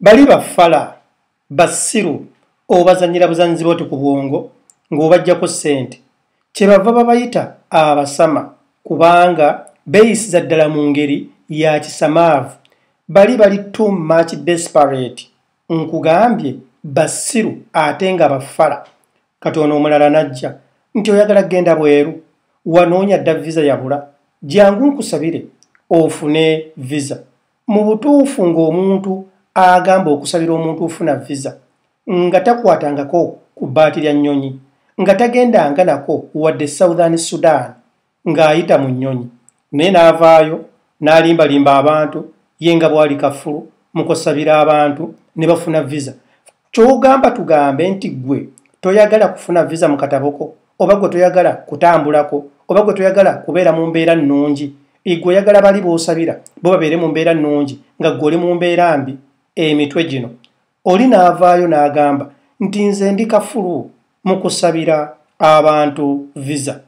bali bafala basiru obazanyira buzanyizi boti ku bwongo ng'obajjako ssente kyebava babayita abasama kubanga beyisiza ddala mu ngeri ya kisamaavu bali bali too much desperate nkugambye basiru ate nga bafala kati ono omulala najja nti oyagala genda bweru wanoonya dda visa yabula jangu nkusabire ofune visa mu butuufu ng'omuntu agamba okusabira omuntu ofuna visa nga takwatangako ku bbaati lya nnyonyi nga tagendanga nako wadde southern sudan ng'ayita mu nnyonyi naye n'avaayo n'alimbalimba abantu ye nga bwali kafulu mukusabira abantu ne bafuna visa kyogamba tugambe nti gwe toyagala kufuna visa mu kataboko oba gwe toyagala kutambulako oba gwe toyagala kubeera mu mbeera nnungi igwe oyagala bali b'osabira bo babeere mu mbeera nnungi nga gwe oli mu mbeera mbi emitwe gino oli n'avaayo n'agamba nti nze ndi kafulu mu kusabira abantu visa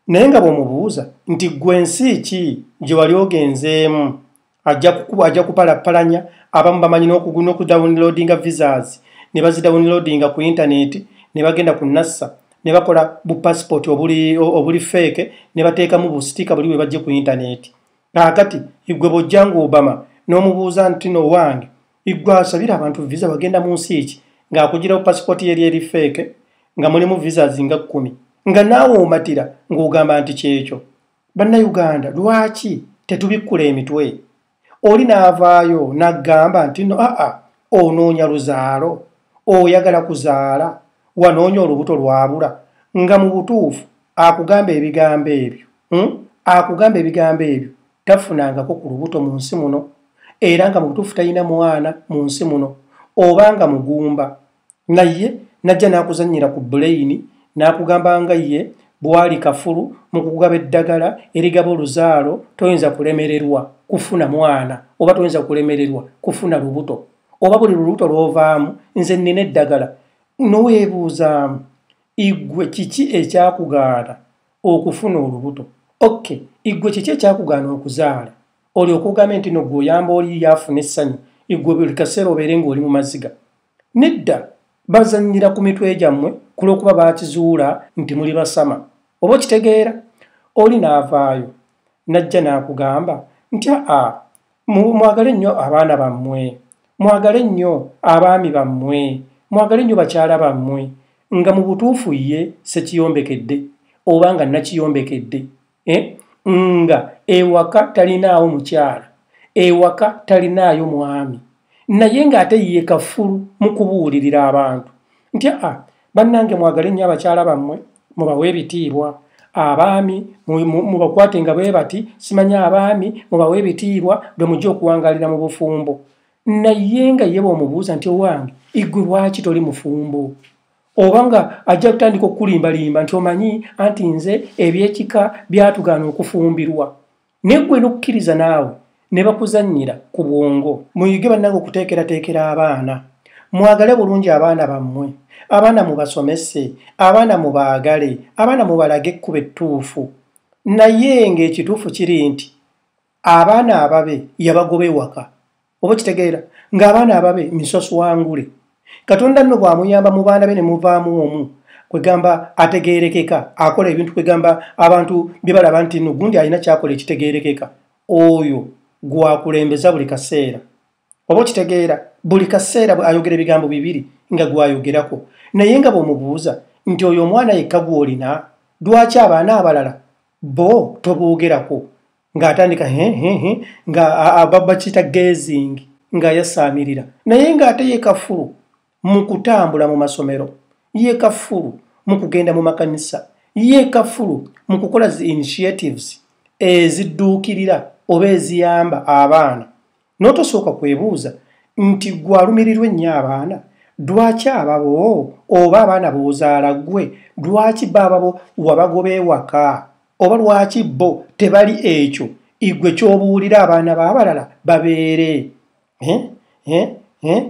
naye nga bw'omubuuza nti gwe ensi ki gye wali ogenzeemu ajja kukuba ajja kupalappalanya abamu bamanyi n'okuguna okudownloadinga visas ne bazidownloadinga ku intaneti ne bagenda ku nassa ne bakola bu passport obuli obuli feeke ne bateekamu busitika buli bwe bajje ku intaneti kaakati igwe bojjanga obama n'omubuuza nti no wange igwe asabira abantu visa bagenda mu nsi eki ng'akugirawo passport yeri eri feeke nga mulimu visas nga kkumi nga naawe omatira ng'ogamba nti kyekyo bannayuganda lwaki tetubikkula emitwe oli n'avaayo n'aggamba nti no aa onoonya luzaalo oyagala kuzaala wanoonya olubuto lwabula nga mu butuufu akugamba ebigambo ebyo hmm? akugamba ebigambo ebyo tafunangako ku lubuto mu nsi muno era nga mu butuufu talina mwana mu nsi muno oba nga mugumba naye najja n'akuzannyira ku buleyini n'akugamba nga ye bwali kafulu mu kukugaba eddagala erigaba oluzaalo toyinza kulemererwa kufuna mwana oba toyinza kulemererwa kufuna lubuto oba buli lulubuto lw'ovaamu nze nnina eddagala noweebuuzaamu igwe kiki ekyakugaana okufuna olubuto oke igwe kiki ekyakugaana okuzaala olyoka ogambe nti no gwe oyamba oli yaafuna essanyu igwe buli kaseera obeere ng'oli mu maziga Nedda, bazannyira ku mitwe gyammwe ku lw'okuba baakizuula nti muli basama. Oba okitegeera? Oli n'avaayo, n'ajja n'akugamba nti, Aa, mwagale nnyo abaana bammwe, mwagale nnyo abaami bammwe, mwagale nnyo bakyala bammwe, nga mu butuufu ye ssekiyombekedde, oba nga nakiyombekedde. eh? nga ewaka talinaawo mukyala ewaka talinaayo mwami naye ng'ate ye kafulu mu kubuulirira abantu nti a ah, bannange mwagale nnyo abakyala bammwe mubawe ebitiibwa abaami mubakwate nga bwe bati simanya abaami mubawe ebitiibwa bwe mujja okuwangalira mu bufumbo naye nga yeba omubuuza nti owange igwe lwaki toli mufumbo oba nga ajja kutandika okukulimbalimba nti omanyi anti nze ebyekika byatugaana okufumbirwa naye gwe nokukkiriza naawe ne bakuzannyira ku bwongo muyige bannange okuteekerateekera abaana mwagale bulungi abaana bammwe abaana mubasomese abaana mubaagale abaana mubalage ekkuba ettuufu naye ng'ekituufu kiri nti abaana ababe yabagoba ewaka oba kitegeera ng'abaana ababe misoswangule katonda nno bw'amuyamba mu baana be ne muvaamu omu kwegamba ategeerekeka akola ebintu kwegamba abantu bye balaba nti no gundi alina kyakola ekitegeerekeka oyo gwakulembeza buli kaseera oba okitegeera buli kaseera ayogera ebigambo bibiri nga gwayogerako naye nga bw'omubuuza nti oyo omwana yekka gw'olina lwaki abaana abalala bo toboogerako ng'atandika hehehe nga ababa kiyita gazing nga yasaamirira naye ng'ate ye kafulu mu kutambula mu masomero ye kafulu mu kugenda mu makanisa ye kafulu mu kukola zi initiatives ezidduukirira oba eziyamba abaana n'otosooka kwebuuza nti gwe alumirirwa ennyo abaana lwaki ababo oba abaana boozaala gwe lwaki baababo wabagoba ewaka oba lwaki bo tebali ekyo igwe ky'obuulira abaana b'abalala babeere eh? Eh? Eh?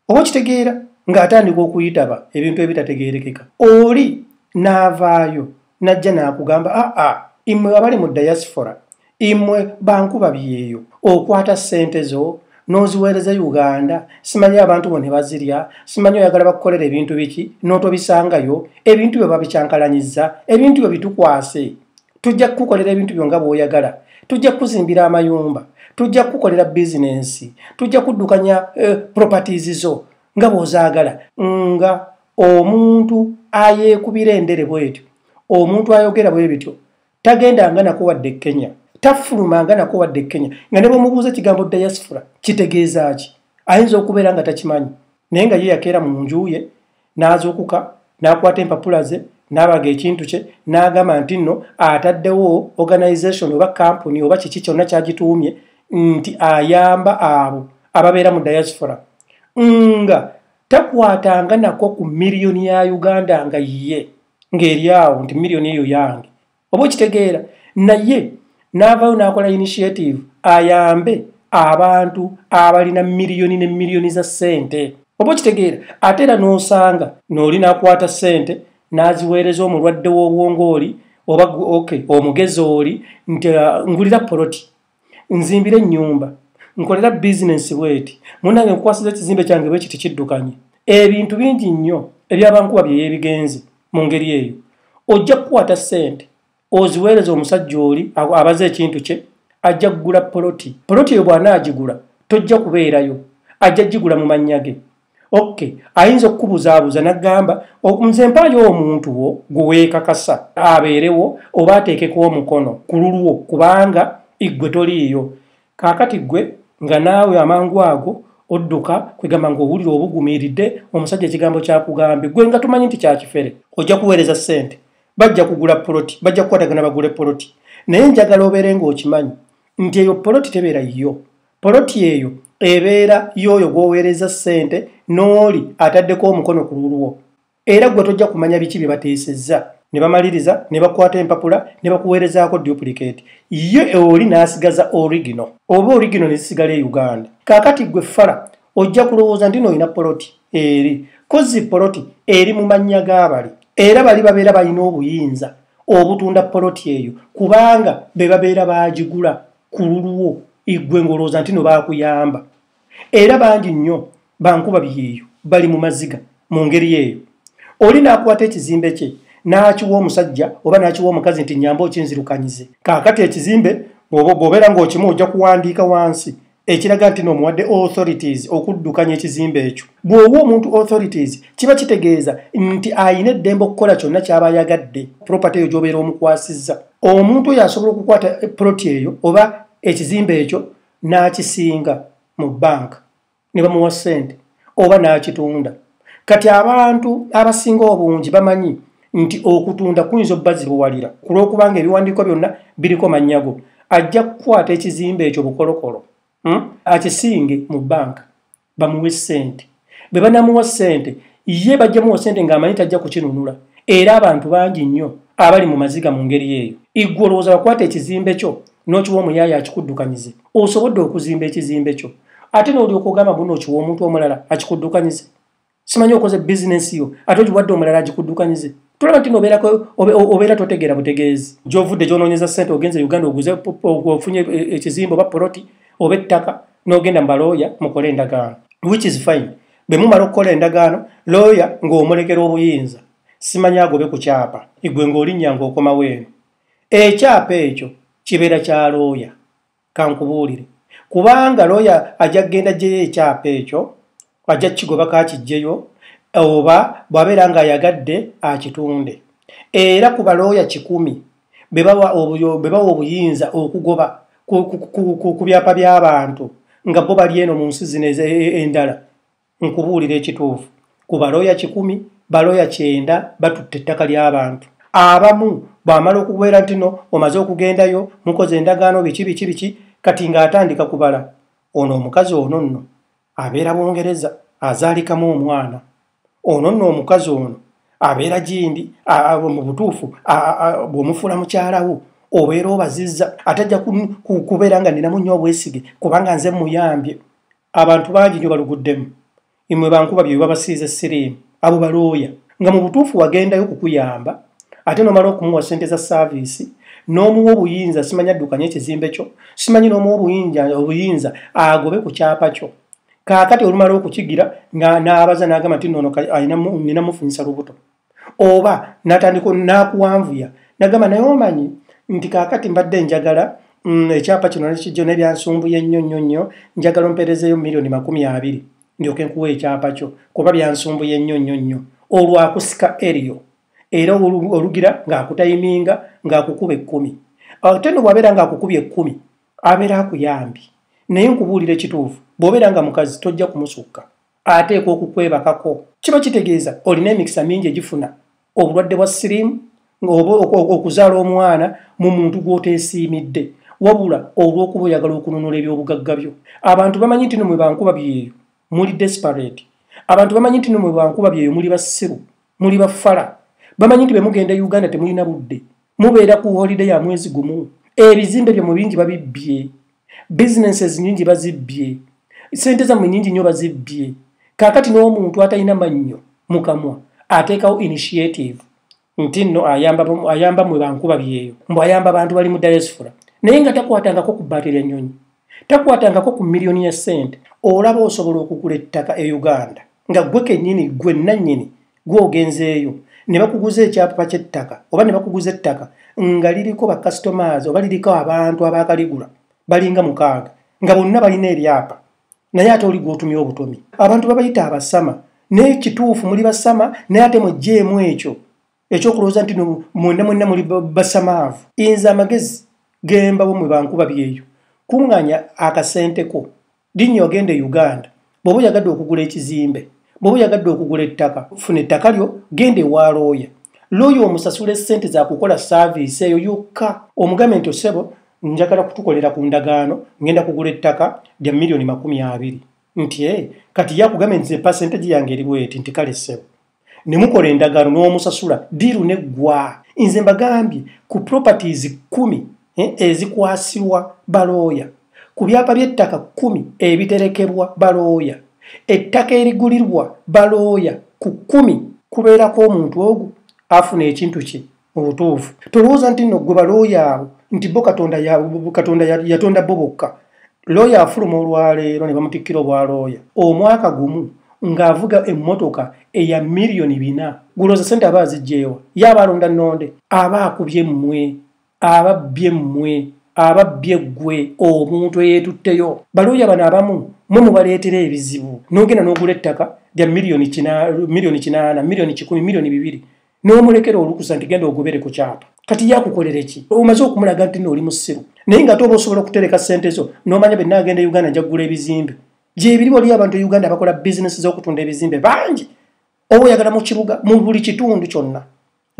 oba okitegeera ng'atandika okuyitaba ebintu ebitategeerekeka oli n'avaayo n'ajja n'akugamba aa ah, ah, imwe abali mu diaspora imwe bankuba byeyo okwata ssente zo n'oziweereza uganda simanyi abantu bo ne bazirya simanyi oyagala bakukolera ebintu biki n'otobisangayo ebintu byo babikyankalanyiza ebintu byo bitukwase tujja kukukolera ebintu byo nga bw'oyagala tujja kukuzimbira amayumba tujja kukukolera bizinensi tujja kuddukanya eh, properties zo nga bw'ozaagala nga omuntu ayeekubira endere bwetyo omuntu ayogera bwe bityo tagenda nga nako wadde e kenya tafuluma nga nako wadde e kenya nga ne bwemubuuza ekigambo diaspora kitegeeza ki ayinza okubeera nga takimanyi naye nga ye yakeera mu nju ye n'azuukuka n'akwata empapula ze n'abaga ekintu kye n'agamba nti nno ataddewo organization oba kampuni oba kiki kyonna kyagituumye nti ayamba abo ababeera mu diaspora nga takwatanga nako ku miliyoni ya uganda nga yiye ng'eri awo nti miliyoni eyo yange oba okitegeera naye n'avaayo n'akola initiative ayambe abantu abalina miliyoni ne miliyoni za ssente oba okitegeera ate era n'osanga nooli n'akwata ssente n'aziweereza omulwadde w'obwongo oli oba oke omugezi oli nti uh, ngulira poloti nzimbira ennyumba nkolera bizinensi bweti munange nkwasiza ekizimbe kyange bweki tekiddukanye ebintu bingi nnyo ebyabankuba byeyebigenze mu ngeri eyo ojja kukwata ssente oziweereza omusajja oli abaze ekintu kye ajja kugula poloti poloti eyo bw'anaagigula tojja kubeerayo ajja gigula mu mannya ge ok ayinza okukubuzaabuza nagamba nze mpaayo omuntu wo gweweekakasa abeerewo oba ateekeko omukono ku lulwo kubanga iggwe toliiyo kaakati ggwe nga naawe amangu ago odduka kwegamba ngaowulira obugumiiridde omusajja ekigambo kyakugambye gwe nga tumanyi nti kyakifere ojja kuweereza ssente bajja kugula poloti bajja kukwatagana bagule poloti naye njagala obeere ngaokimanyi nti eyo poloti tebeera yiyo Poloti eyo ebeera y'oyo gw'oweereza ssente n'oli ataddeko omukono ku lulwo era gwe tojja kumanya biki bye bateesezza ne bamaliriza ne bakwata empapula ne bakuweerezaako duplicate ye oli n'asigaza origino oba origino ne zisigala e uganda kaakati gwe fala ojja kulowooza nti noolina poloti eri kozzi poloti eri mu mannya g'abali era bali babeera balina obuyinza obutunda poloti eyo kubanga be babeera baagigula ku lulwo igwe ngolooza nti no baakuyamba era bangi nnyo bankuba byeyo bali mu maziga mu ngeri eyo oli n'akwata ekizimbe kye n'akiwa omusajja oba n'akiwa omukazi nti nyamba okinzirukanyize kaakati ekizimbe bw'obeera ng'okimu ojja kuwandiika wansi ekiraga nti n'omuwadde authorities okuddukanya ekizimbe ekyo bw'owa omuntu authorities kiba kitegeeza nti alina eddembe okukola kyonna ky'aba ayagadde propaty eyo gy'obeera omukwasizza omuntu oyo asobola okukwata poloti eyo oba ekizimbe ekyo n'akisinga mu banka ne bamuwa ssente oba n'akitunda kati abantu abasinga obungi bamanyi nti okutunda kuyinza obbazibuwalira ku lw'okubanga ebiwandiiko byonna biriko mannyago ajja kukwata ekizimbe ekyo bukolokolo hmm? akisinge mu banka bamuwe sente bwe banamuwa sente ye bajja muwa sente ng'amanyi tajja kukinunula era abantu bangi nnyo abali mu maziga mu ngeri eyo iggwe olowooza wakwata ekizimbe kyo n'okiwa omuyaaye akikuddukanyize osobodde okuzimba ekizimbe kyo ate n'olyoka ogamba buno okiwa omuntu omulala akikuddukanyize simanyi okoze bizinensi yo ate ogiwadde omulala agikuddukanyize tulaba nti obeera totegeera butegeezi gyovudde gyononyeza sente ogenze uganda oguze ofunye e, ekizimba oba poloti oba ettaka n'ogenda mubalooya mukole endagaano which is fine bwe mumala okukola endagaano looya ng'omulekera obuyinza simanyi agobe ku kyapa igwe ng'olinnya ng'okomawo eno ekyapa ekyo kibeera kya looya kankubuulire kubanga looya ajja kugenda jjeyo ekyapa ekyo ajja kukigobako akijjeyo oba bw'abeera ng'ayagadde akitunde era ku balooya kikumi be bawa obuyinza okugoba ku byapa by'abantu nga bo bali eno mu nsi zino e, e, endala nkubuulira ekituufu ku balooya kikumi balooya kyenda batutte ettaka ly'abantu abamu bw'amala okubeera nti no omaze okugendayo mukoze endagaano biki biki biki kati ng'atandika kubala ono omukazi ono nno abeera bungereza azaalikamu omwana ono nno omukazi ono abeera gindi mu butuufu bw'omufuula mukyalawo obeera obazizza atajja kubeera nga ninamu nnyo obwesige kubanga nze muyambye abantu bangi nyo baluguddemu imwe bankuba byo babasiize siriimu abo balooya nga mu butuufu wagendayo kukuyamba ate nomala okumuwa sente za saaviisi n'omuwa obuyinza simanya addukanye ekizimbe kyo simanyi n'omuwa obuyinza agobe ku kyapa kyo kaakati olumala okukigira nga n'abaza n'agamba nti noono alina mufunyisa lubuto oba natandika nakuwanvuya nagamba naye omanyi nti kakati mbadde njagala mm, ekyapa kino nekijjo nebyansumbuye nnyo nnyo nnyo njagala omperezeyo milioni makumi abiri ndyoke nkuwa ekyapa kyo kuba byansumbuye nnyo nnyo nnyo olwakusika eriyo era olugira ng'akutayiminga ng'akukuba ekkumi ate no bwabeera ng'akukuba ekkumi abeera akuyambi naye nkubuulira ekituufu bw'obeera nga mukazi tojja kumusukka ateekwa okukwebakako kiba kitegeeza olina emikisa mingi egifuna obulwadde bwa siriimu okuzaala omwana mu muntu gw'oteesiimidde wabula olw'okuba oyagala okununula ebyobugagga byo abantu bamanyi nti nomwe bankuba byeyo muli desperate abantu bamanyi nti nomwe bankuba byeyo muli basiru muli bafala bamanyi nti bemugenda e uganda temulina budde mubeera ku holide ya mwezi gumu ebizimbe byomwe bingi babibbye businesses nyingi bazibbye sente zamwe nyingi nyo bazibbye kakati n'omuntu atalina mannyo mukamwa ateekawo initiative nti nno ayamba, ayamba mwe bankuba byeyo mbu ayamba bantu bali mu diaspora naye nga takwatangako ku baati lya nyonyi takwatangako ku miliyoni ya sente olaba osobola okugula ettaka e uganda nga gwe kenyini gwe nanyini gwogenzeeyo ne bakuguza ekyapa kyettaka oba ne bakuguza ettaka nga liriko bacustomers oba liriko abantu abakaligula balinga mukaaga nga bonna balina ebyapa naye ate oli gwotumya obutomi abantu babayita abasama naye kituufu muli basama naye ate mujjeemu ekyo ekyokulowooza nti no mwena mwena muli basamaavu inza amagezi gembawo mwe bankuba byeyo kuŋŋanya akasenteko linnya ogenda e uganda bw'oba oyagadde okugula ekizimbe bw'oba oyagadde okugula ettaka funa ettaka lyo genda ewa looya looya omusasula essente zakukola saaviisi eyo yokka omugambe nti osebo njagala kutukolera ku ndagaano ngenda kugula ettaka lya miliyoni makumi abiri nti e kati yakugambe nti epasenteji yange eriwo eti nti kale ssebo ne mukola endagaano n'omusasula diiru ne ggwa nze mbagambye ku properties kkumi eh, ezikwasirwa balooya ku byapa by'ettaka kkumi ebiterekebwa balooya ettaka erigulirwa balooya ku kkumi kubeerako omuntu ogwo afuna ekintu kye obutuufu tolowooza nti no gwe balooya abo nti bo katonda katonda yatonda bo bokka looya afuluma olwaleero ne bamutikkira obwalooya omwaka gumu ng'avuga emmotoka eya miliyoni bina gulooza sente aba azijjeewa ye aba alonda nnonde aba akubye mmwe aba bbye mmwe aba bbye ggwe omuntu eyeetutteyo balooya bano abamu mwe mubaleetera ebizibu n'ogenda n'ogula ettaka lya miliyoni kinaana miliyoni kikumi miliyoni bibiri n'omulekera olukusa nti genda ogobere ku kyapa kati yakukolera ki omaze okumulaga nti nooli musiru naye nga ate oba osobola okutereka ssente zo n'omanya bwe naagenda e uganda njaggula ebizimbe gyebiri waliyo abantu e uganda abakola bizinesi z'okutunda ebizimbe bangi oba oyagala mu kibuga mu buli kitundu kyonna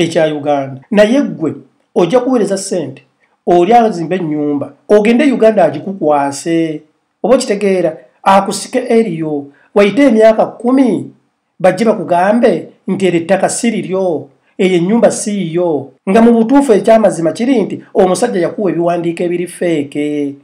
ekya uganda naye ggwe ojja kuweereza ssente oli azimba ennyumba ogende e uganda agikukwase oba okitegeera akusike eriyo wayite emyaka kkumi bajje bakugambe nti eryo ettaka si liryo eyo ennyumba si yiyo nga mu butuufu ekyamazima kiri nti omusajja yakuwa ebiwandiiko ebiri feeke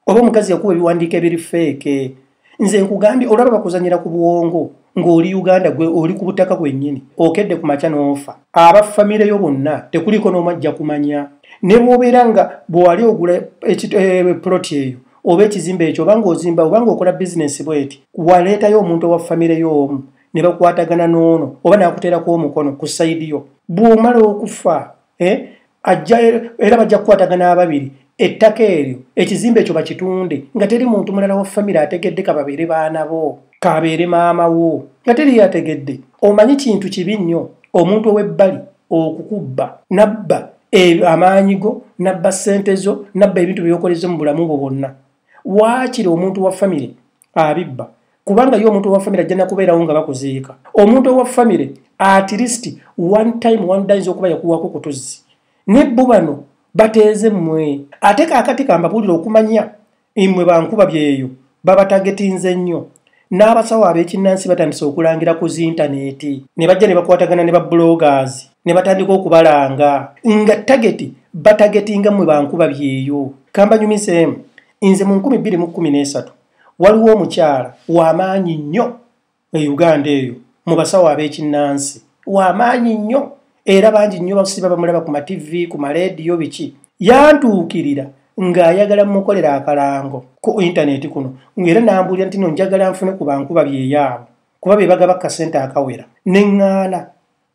oba omukazi yakuwa ebiwandiiko ebiri feeke nze nkugambye olaba bakuzanyira ku bwongo ng'oli uganda gwe oli ku butaka bwennyini okedde ku makya n'ofa aba famire yo bonna tekuliiko n'omu ajja kumanya ne bwobeera nga bwewali ogula eh, puloti eyo oba ekizimbe ekyo obanga ozimba obanga okola bizinesi bweti waleetayo omuntu owa famire y'omu ne bakwatagana n'ono oba nakuteerako omukono ku sayidi yo bw'omala okufa eh, ajja era bajja kukwatagana ababiri ettaka eryo ekizimbe ekyo bakitunde nga teri muntu mulala wa famire ategedde ka babeere baana bo kaabeere maama wo nga teri yategedde omanyi kintu kibi nnyo omuntu ow'ebbali okukubba nabba e, amaanyi go nabba ssente zo nabba ebintu byeyokoleze mu bulamu bwo bwonna waakiri omuntu wa famire abibba kubanga ye omuntu owa famire ajja nakubeerawo nga bakuziika omuntu owa famire at least one time one dayinza okuba yakuwako kutuzzi ne bo bano bateeze mmwe ate kaakati kambabuulire okumanya imwe bankuba byeyo babatagetinze nnyo n'abasawo ab'ekinnansi batandise okulangira ku zintaneeti ne bajja ne bakwatagana ne babulogas ne batandika okubalanga nga tageti batagetinga mmwe bankuba byeyo kambanyumiseemu nze mu 213 waliwo omukyala wamaanyi nnyo e uganda eyo mu basawo ab'ekinnansi wamaanyi nnyo era bangi nnyo basiba bamulaba ku mativi ku maleediyo biki yantuukirira ng'ayagala mukolera akalango ku intaneti kuno ngaera nambuulira nti no njagala nfune ku bankuba byeyaabo kuba be bagaba kasente akawera ne ŋŋaana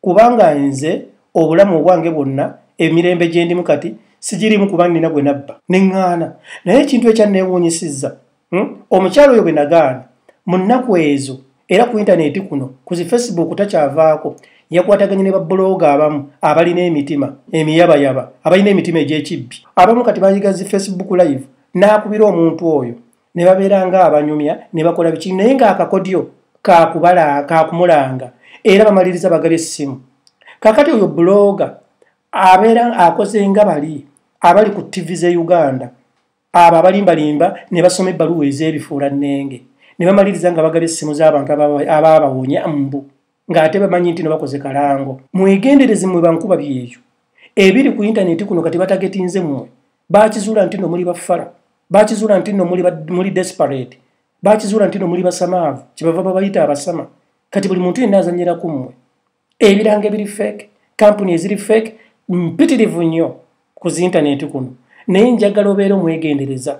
kubanga nze obulamu obwange bwonna emirembe gye ndimu kati sigirimu kuba nnina gwe nabba ne ŋŋaana naye ekintu ekyanneewuunyisizza hmm? omukyalo oyo bwe nagaana mu nnaku ezo era ku intaneeti kuno ku zi facebook takyavaako yakwataganye ne babbulooga abamu abalina emitima emiyabayaba abalina emitima egy'ekibbi abamu kati bayiga zi facebook live n'akubira omuntu oyo ne babeera nga abanyumya ne bakola biki naye ng'akakodyo kakumulanga era bamaliriza bagaba essimu kakati oyo buloga abeera akoze nga bali abali ku ttivi z'e uganda abo abalimbalimba ne basoma ebbaluwa ez'ebifuula nnenge ne bamaliriza nga bagaba essimu z'abantu abaabawonya mbu ng'ate bamanyi nti nebakoze kalango mwegendereze mwe bankuba byeyo ebiri ku intaneti kuno kati batagetinze mwe bakizuula nti no muli bafala bakizuula nti no muli desperate bakizuula nti no muli basamaavu kyebava babayita abasama kati buli muntu yenna azanyira ku mmwe ebiranga ebiri fake kampuni eziri fake mpitirivu nnyo ku zintanenti kuno naye njagala obeera omwegendereza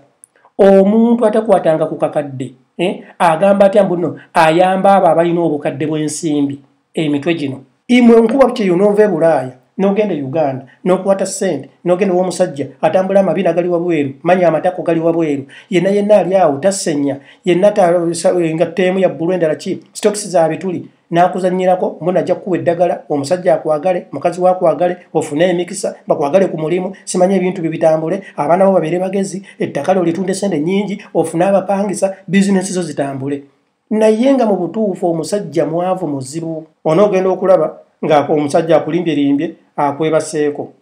omuntu atakwatanga ku kakadde eh, agamba atya mbuno ayamba abo abalina obukadde bw'ensimbi emitwe gino imwe nkuba bukyeyo noova e bulaaya nogenda e uganda nokwata sente nogenda owomusajja atambula amabina gali wabweru manya amatako gali wabweru yenna yenna ali awo tasenya yenna eh, nga teemu yabbulu endala ki stokisi zabituli n'akuzannyirako mbona ajja kukuwa eddagala omusajja akwagale mukazi wakwagale ofune emikisa bakwagale ku mulimu simanya ebintu bye bitambule abaana bo babeere bagezi ettaka lyo litunda esente nnyingi ofune abapangisa bizinesi zo zitambule naye nga mu butuufu omusajja mwavu muzibu onoogenda okulaba ng'omusajja akulimbyerimbye akwebaseeko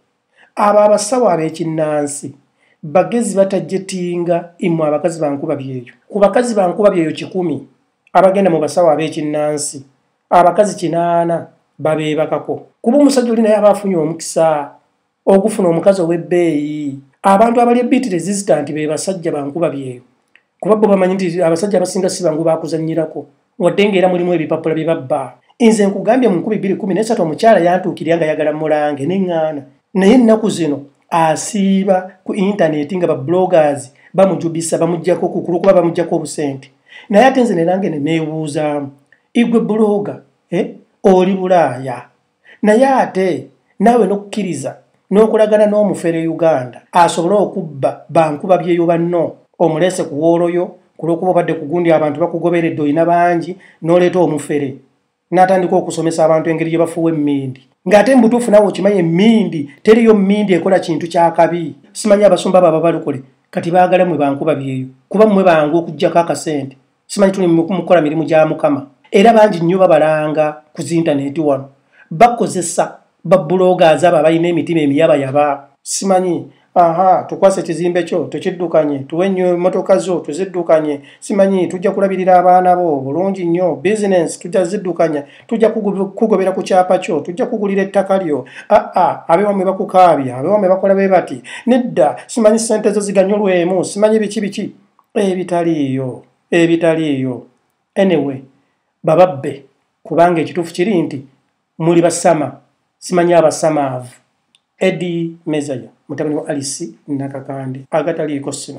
abo abasawo ab'ekinnansi bagezi batajetinga imwe abakazi bankuba byeyo ku bakazi bankuba byeyo kikumi abagenda mu basawo ab'ekinnansi abakazi kinaana babeebakako kuba omusajja oli naye aba afunye omukisa ogufuna omukazi ow'ebbeeyi abantu abali ebiiti resistant be basajja bankuba byeyo kuba bo bamanyi nti abasajja abasinga si bangu bakuzanyirako wadde ng'era mulimu ebipapula bye babba nze nkugambye mu nkubi bbiri kumi n'esatu omukyala yantuukirira nga yagala mulange neŋŋaana naye ennaku zino asiiba ku intaneeti nga bablogers bamujubisa bamugjako kukulu kuba bamugjako obusente naye ate nze nerange ne neebuuzaamu igwe buloga eh? oli bulaaya naye ate naawe n'okukkiriza n'okolagana n'omufere uganda asobole okubba bankuba byeyo banno omuleese ku wooloyo ku lw'okuba obadde ku gundi abantu bakugoberedde olina bangi n'oleeta omufere n'atandika okusomesa abantu engeri gye bafuwa emmindi ng'ate mu butuufu naawe okimanyi emmindi teriyo mmindi ekola kintu kyakabi simanyi abasumba abo ababalokole kati baagala mwe bankuba byeyo kuba mmwe bangu okugyako akasente simanyi tuli mukukola mirimu gya mukama era bangi nnyo babalanga ku zintaneti wano bakozesa babuloga azaabo abalina emitima emiyabayaba simanyi aha tukwasa ekizimbe kyo tukiddukanye tuwe nnyo emmotoka zo tuziddukanye simanyi tujja kulabirira abaana bo bulungi nnyo bizinensi tujja ziddukanya tujja kugobera ku kyapa kyo tujja kugulira ettaka lyo aa abewamwe bakukaabya abewamwe bakola be bati nedda simanyi ssente zo ziganyulwemu simanyi biki biki ebitaliiyo ebitaliiyo anyway bababbe kubanga ekituufu kiri nti muli basama simanyi abasamaavu edi mezaya mutabani wa alisi nakakande agataliiko sino